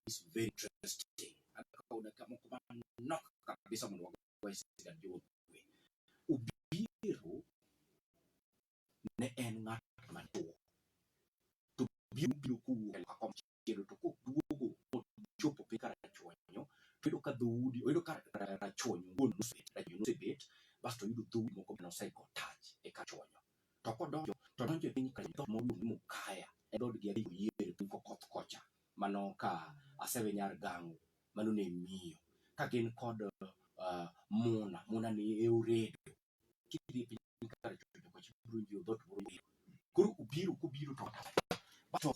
is very interesting. Akaona kama kuma knock kabisa munhu wako waisika ndiwo we. Ubiru ne en ng'at maduong'. To biru biro kuwuok e kom chielo to koduogo mochopo piny kar rachwanyo to yudo ka dhoudi oyudo ka rachwanyo wuon nosebet rachwanyo nosebet basto oyudo dhoudi moko bende osego tach e kar chwanyo. To kodonjo to donjo e piny kar dhoot moro miluongo ni Mukaya e dhoodgi adhi oyier e piny kokoth kocha. mano ka asewe nyar gangu mano ne miyo ka gin kod uh, muna muna ni e uredo kidhi piny kar chodo kwa chiburu ndio dot buru kuru ubiru kubiru to to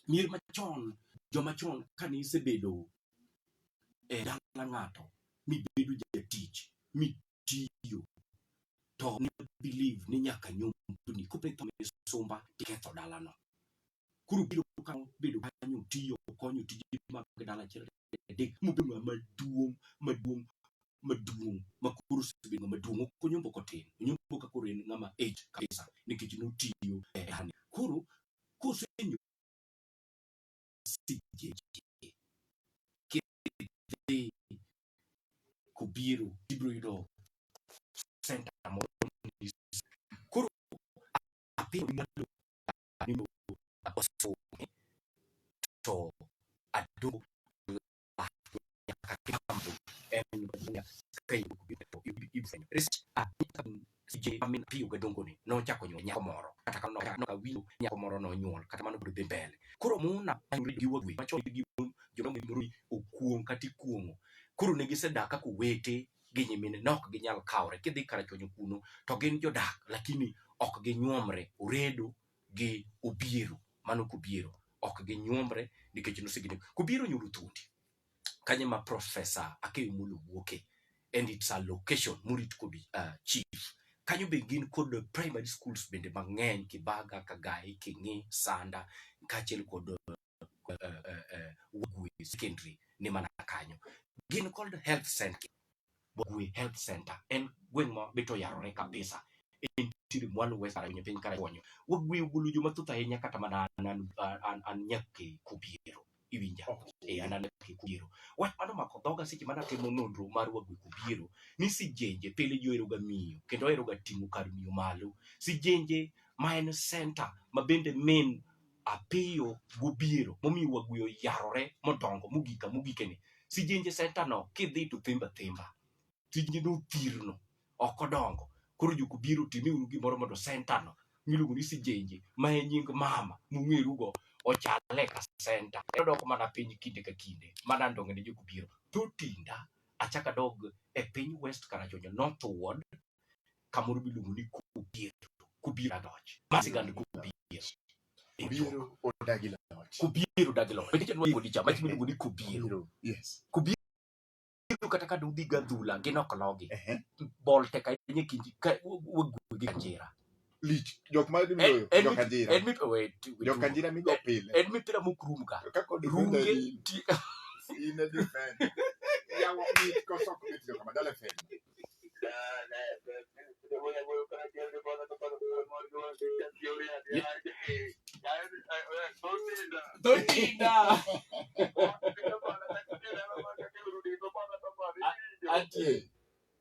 mier machon joma chon kane isebedo e dala ng'ato mibedo jatich mitiyo to ne believe ni nyaka nyumbni kopetho misumba tiketho dalano Koro biro ka bedo kanyo tiyo konyo tije mag dala achiel adek mobedo ng'ama maduong' maduong' maduong' ma koro osebedo ng'ama duong' ok onyombo kotin onyombo ka koro en ng'ama age kabisa nikech notiyo e dani koro kosenyo kidhi kobiro ibiro yudo center moro koro apim malo adundu osumi to adundu kakitambo en Tanzania ka yudo kubiro to ibufenyo rest adika sije amin piyo ga dongo ni nochako nyuol nyako moro kata kano kata no awinjo nyako moro nonyuol kata mano biro dhi mbele koro muna ayuri gi wagwe macho gi mon joma mi muru okuong kata ikuongo koro ne gisedak kaka owete gi nyimine ne ok ginyal kawre kidhi karachuonyo kuno to gin jodak lakini ok ginyuomre oredo gi obiero mano kobiero ok ginyuomre nikech nosegine kobiero nyulo thuondi kanye ma profesa akeyo mulo wuoke and its a location murit kod uh, chief kanyo be gin kod primary schools bende mang'eny kibaga kagae king'i sanda kaachiel kod uh, uh, uh, secondary ni mana kanyo gin called health center Bogwe health center en gweng' ma bito yarore kabisa en tiri mwalo west kara piny kara konyo wagwe ugulu joma thoth ahinya kata mana an an an, an nyake kubiero iwinja e an an nyake kubiero wach mano mako dhoga seche mana timo nonro mar wagwe kubiero ni sijenje pile joero ga miyo kendo ohero ga ting'o kar miyo malo sijenje ma en center ma bende main apiyo gobiero momiyo wagwe oyarore modongo mogika mogikeni sijenje sentano kidhi to thimba thimba tijni nothirno ok odongo koro joko biro time uru gimoro mondo sentano miluongo ni sijenje ma en nying mama mung'erugo ochale ka senta odoko mana piny kinde ka kinde mana ndong'ene joko biro to tinda achaka dog e piny west karachonya northward kamoro miluongo ni kobiero kobiero adoch ma sigand kobiero Kobiero odagi loch. kobiero odagi loch nikech nwa kuonde cha mach miluongo ni kobiero Kobiero. Yes. kobiero kata ka dudhi gadhula gin ok logi Ehe. bol tek ahinya e kind ka wagwegi kanjira lich jok ma dhi loyo En jok ajira en mip wait. jok ajira migo pile En mipira mokrum ka. ka kod Runge ti in a defend ya wa mi ko sok mi jok ma dale fen Totinda. Ati.